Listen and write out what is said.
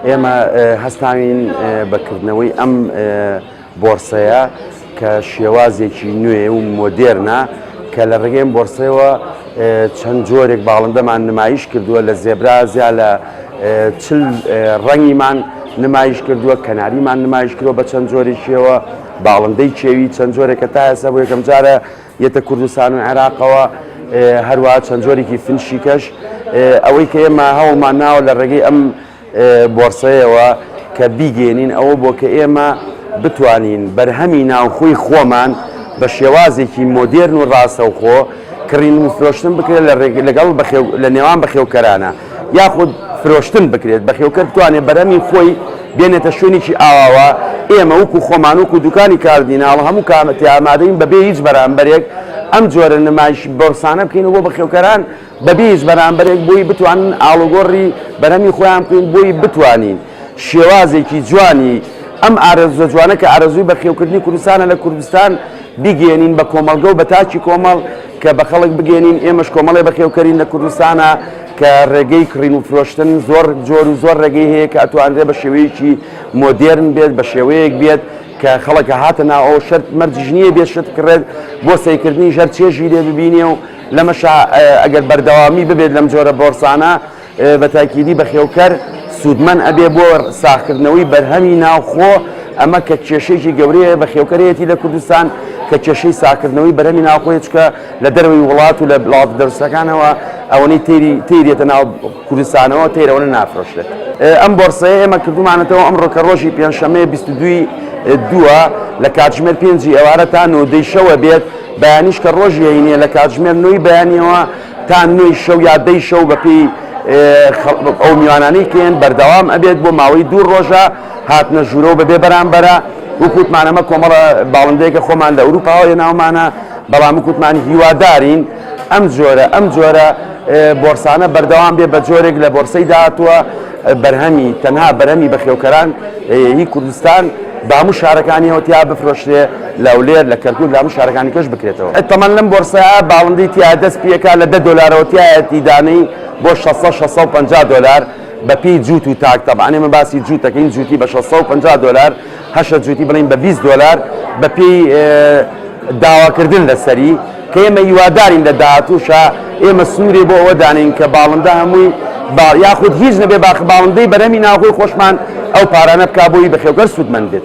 ئێمە هەستاوین بەکردنەوەی ئەم بۆرسەیە کە شێوازێکی نوێ و مۆدێرنە کە لە ڕێگەیم بۆرسەوە چەند جۆرێک باڵندەمان نمایش کردووە لە زێبرا زیا لە چل ڕەنگیمان نمایش کردووە کەناریمان نمایش کردوە بە چەند جۆرێکیەوە باڵندەی چێوی چەند جۆرێکە تا ئێستا بۆ یەکەم جارە یەتە کوردستان و عێراقەوە هەروە چەند جۆرێکی فنشیکەش ئەوەی کە ئێمە هەوڵمان ناوە لە ڕێگەی ئەم بۆرسەیەوە کە بیگەیەنین ئەوە بۆ کە ئێمە بتوانین بەرهەمی ناوخۆی خۆمان بە شێوازێکی مۆدێرن و ڕاستەوخۆ کڕین و فرۆشتن بکرێت لە ڕێگ لەگەڵ بەخێو لە نێوان بەخێوکەرانە یاخود فرۆشتن بکرێت بەخێوکەر بتوانێت بەرەمی خۆی بێنێتە شوێنێکی ئاواوە ئێمە وکو خۆمان وکو دوکانی کاردیناڵ هەموو کامەتی ئامادەین بەبێ هیچ بەرامبەرێک ئەم جۆرە نمایش بۆرسانە بکەین و بۆ بەخێوکەران بەبێ هیچ بەرامبەرێک بۆی بتوانن ئاڵوگۆڕی بەرهەمی خۆیان بکەین، بۆی بتوانین شێوازێکی جوانی ئەم ئارەزووە جوانە کە ئارەزووی بەخێوکردنی کوردستانە لە کوردستان بیگەیەنین بە کۆمەڵگە و بە تاکی کۆمەڵ کە بە خەڵک بگەیەنین ئێمەش کۆمەڵێ بەخێوکەرین لە کوردستانا کە ڕێگەی کڕین و فرۆشتن زۆر جۆر و زۆر ڕێگەی هەیە کە ئەتوانرێ بە شێوەیەکی مۆدێرن بێت بە شێوەیەک بێت کە خەڵک هاتە ناو ئەو شەرت مەرجیش نییە بێ شت کڕێت بۆ سەیکردنی ژەر چێژی لێ ببینێ و لەمەشا ئەگەر بەردەوامی ببێت لەم جۆرە بۆرسانە بە تاکیدی بەخێوکەر سوودمەند ئەبێ بۆ ساخکردنەوەی بەرهەمی ناوخۆ ئەمە کە کێشێکی گەورەیە بە خێوکەرێتی لە کوردستان کە کێشەی ساکردنەوەی بەرەمی ناوخۆی چکە لە دەروی وڵات و لە بڵات دەرسەکانەوە ئەوەی تێری تێریێتە ناو کوردستانەوە تێرەوەە نافرۆشێت ئەم بۆرسەیە ئێمە کردومانەتەوە ئەم ڕۆکە ڕۆژی پێنجشەمەیە 22 دووە لە کاتژمێر پێنجی ئێوارە تا نۆدەیشەوە بێت بەیانیش کە ڕۆژی هەینییە لە کاتژمێر نۆی بەیانییەوە تا نۆی شەو یا دەی شەو بەپێی ئەو میوانانەی کێن بەردەوام ئەبێت بۆ ماوەی دوو ڕۆژە هاتنە ژوورەوە بەبێ بەرامبەرە وکوتمان ئەمە کۆمەڵە باڵندەیەکە خۆمان لە ئەوروپاوە یە ناومانە بەڵام وکوتمان هیوادارین ئەم جۆرە ئەم جۆرە بۆرسانە بەردەوام بێ بە جۆرێک لە بۆرسەی داهاتووە بەرهەمی تەنها بەرەمی بەخێوکەران هی کوردستان باموو شارەکانیەوە تیا بفرۆشرێ لە هەولێر، لە کەرکوک، لە هەموو شارەکانی کەش بکرێتەوە. تەمەن لەم بۆرسەیە باڵندەی تیایە دەست پیەکا لە دە دۆلارەوە تیایەتی دانەی بۆ شەست سەد شەست سەد و پەنجا دۆلار بە پێی جووت و تاک تەبعەن ئێمە باسی جووت دەکەین جووتی بە شەست سەد و پەنجا دۆلار هەشە جووتی بڵێین بە بیست دۆلار بە پێی داواکردن لەسەری کە ئێمە هیوادارین لە داهاتووشە ئێمە سنوورێ بۆ ئەوە دانین کە باڵندە هەمووی با یاخود هیچ نەبێ باخ باڵندەی بەرەمی ناوخۆی خۆشمان ئەو پارانە بکا بۆی بەخێوکەر سوودمەند بێت.